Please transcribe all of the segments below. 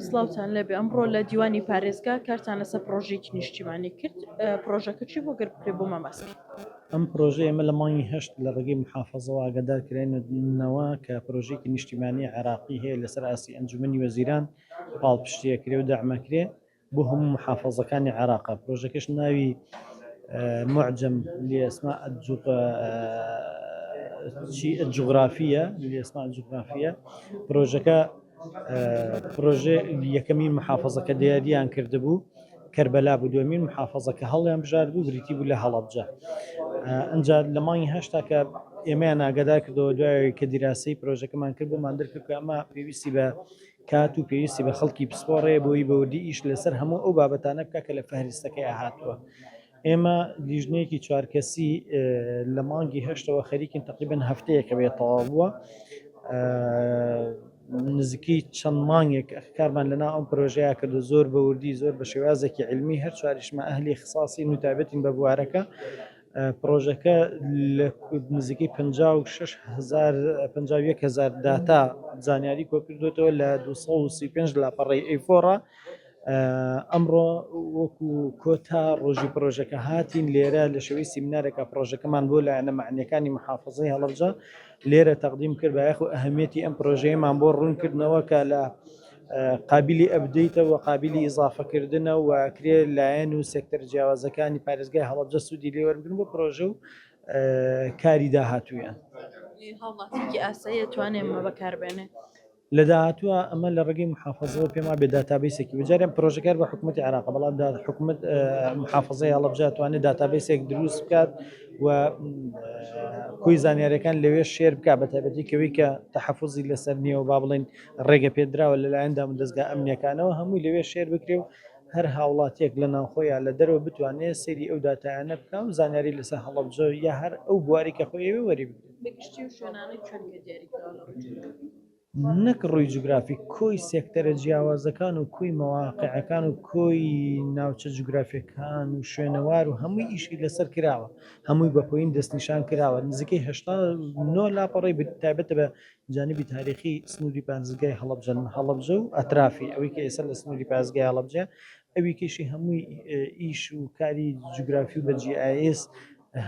سڵاوتان لێبێ ئەمڕۆ لە دیوانی پارێزگا کارتان لەسەر پڕۆژەیەکی نیشتیمانی کرد پڕۆژەکە چی بوو گەر بکرێ بۆمان باس بکەی. ئەم پڕۆژەیە ئێمە لە مانگی هەشت لە ڕێگەی محافەزەوە ئاگادار کراینەوە کە پڕۆژەیەکی نیشتیمانی عێراقی هەیە لەسەر ئاستی ئەنجومەنی وەزیران پاڵپشتی ئەکرێ و دەعم ئەکرێ بۆ هەموو موحافەزەکانی عێراقە، پرۆژەکەش ناوی معجم لاسماء الجغرافیە لاسماء الجغرافیە، پرۆژەکە پرۆژەی یەکەمین موحافەزە کە دیاریان کردبوو کەربەلا بوو، دووەمین موحافەزە کە هەڵیان بژاردبوو بریتی بوو لە هەڵەبجە، ئینجا لە مانگی هەشتا کە ئێمەیان ئاگادار کردەوە دوای ئەوەی کە دیراسەی پرۆژەکەمان کرد بۆمان دەرکرد کە ئەمە پێویستی بە کات و پێویستی بە خەڵکی پسپۆڕەیە بۆی بەوردی ئیش لەسەر هەموو ئەو بابەتانە بکات کە لە فەهرستەکەیا هاتووە. ئێمە لیژنەیەکی چوار کەسی لە مانگی هەشتەوە خەریکین تەقریبەن هەفتەیەکە بێ تەواو بووە نزیکی چەند مانگێک کارمان لەنا ئەم پرۆژەیە کردو زۆر بەوردی زۆر بە شێوازێکی علمی هەر چواریشمە ئەهلی خساسی نوتابەتین بە بوارەکە پڕۆژەکە لە نزیکەی پەنجا و شەش هەزار پەنجا و یەک هەزار داتا زانیاری کۆکردوێتەوە لە دوو سەد و سی و پێنج لاپەڕەی ئەیفۆڕا ئەمڕۆ وەکو کۆتا ڕۆژی پرۆژەکە هاتین لێرە لە شوی سیمنارێکە پرۆژەکەمان بۆ لایەنە معنیەکانی محافظی هەڵبجە لێرە تەقدیم کرد بایەخ و ئەهمیەتی ئەم پرۆژەیەمان بۆ ڕوونکردنەوە کە لە قابیلی ئەپدەیتە و قابیلی ئیزافەکردنە و ئەکرێ لایەن و سێکتەرە جیاوازەکانی پارێزگای هەڵەبجە سوودی لێ وەربگرن بۆ پرۆژە و کاری داهاتوویان. هاوڵاتییەکی ئاسایی ئەتوانێ ئەمە بەکاربێنێ؟ لە داهاتووە ئەمە لە ڕێگەی موحافەزەوە پێم وابێ داتابەیسێکی بێ، جارێ پرۆژەکار بە حکوومەتی عێراقە، بەڵام دا حکومت موحافەزەی هەڵەبجە ئەتوانێ داتابەیسێک دروست بکات و کۆی زانیارییەکان لەوێ شێر بکات بە تایبەتی کەوێی کە تەحەفوزی لەسەر نییە و با بڵێین ڕێگە پێدراوە لەلایەن دامودەزگا ئەمنییەکانەوە هەمووی لەوێ شێر بکرێ و هەر هاوڵاتییەک لە ناوخۆ یا لە دەرەوە بتوانێ سەیری ئەو داتایانە بکا و زانیاری لەسەر هەڵەبجە یا هەر ئەو بواری کە خۆی ئەوێ وەری بگرێ. نەک ڕووی جوگرافی، کۆی سێکتەرە جیاوازەکان و کۆی مەواقعەکان و کۆی ناوچە جوگرافییەکان و شوێنەوار و هەمووی ئیشی لەسەر کراوە، هەمووی بە پۆین دەستنیشان کراوە، نزیکەی هەشتا و نۆ لاپەڕەی تایبەتە بە جانبی تاریخی سنوری پارێزگای هەڵەبجە لە هەڵەبجە و ئەترافی ئەوی کە ئێستا لە سنوری پارێزگای هەڵەبجە ئەوی کەشی هەمووی ئیش و کاری جوگرافی و بە GIS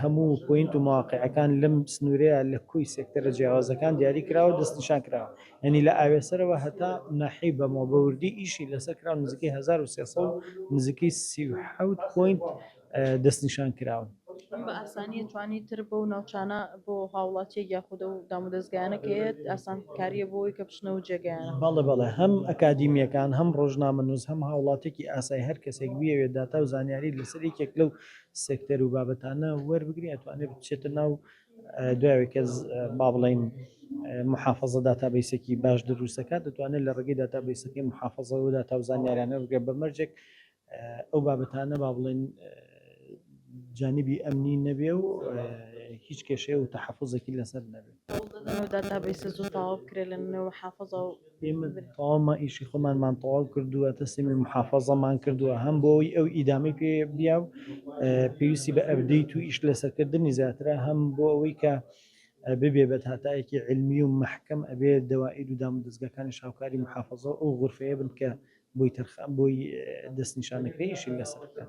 هەموو پوینت و مواقعەکان لەم سنورەیە لە کۆی سێکتەرە جیاوازەکان دیاری کراوە دەستنیشان کراوە یعنی لە ئاوێسەرەوە هەتا ناحیەی بەمەوە بە وردی ئیشی لەسەر کراوە نزیکەی هەزار و سێ سەد و نزیکەی سی و حەوت پوینت دەستنیشان کراون. بە ئاسانی توانی تر بەو ناوچانە بۆ هاوڵاتیەک یاخود ئەو دامودەزگایانە کە هەیە ئاسانکاریە بۆ ئەوەی کە بچنەوە جێگەیانە. بەڵێ بەڵێ هەم ئەکادیمیەکان هەم ڕۆژنامەنوس هەم هاوڵاتێکی ئاسای هەر کەسێک بیەوێت داتا و زانیاری لەسەر یەکێک لەو سێکتەر و بابەتانە وەربگری ئەتوانێت بچێتە ناو دوای کە با بڵین محافظە داتابیسێکی باش دروستەکە دەتوانێت لە ڕێگەی داتابیسەکەی محافظەوە داتا و زانیاریانە بگە بە مەرجێک ئەو بابەتانە با بڵێن جانبی ئەمنی نەبێ و هیچ کێشەیە و تەحەفزێکی لەسەر نەبێت داتابیسە زوو تاوا بکرێ لە نەوە حافظە و ئێمە تاوامە ئیشی خۆمانمان تەواو کردووە تەسمی محافظەمان کردووە هەم بۆی ئەو ئیدامی پێ بیا و پێویستی بە ئەبدەیت و ئیش لەسەرکردنی زیاترە هەم بۆ ئەوەی کە ببێ بە داتایەکی عیلمی و مەحکەم ئەبێ دەوائید و دامودەزگاکانیش هاوکاری موحافەزەو ئەو غورفەیە بن کە بۆی دەستنیشان دەکرێ ئیشی لەسەر بکەن.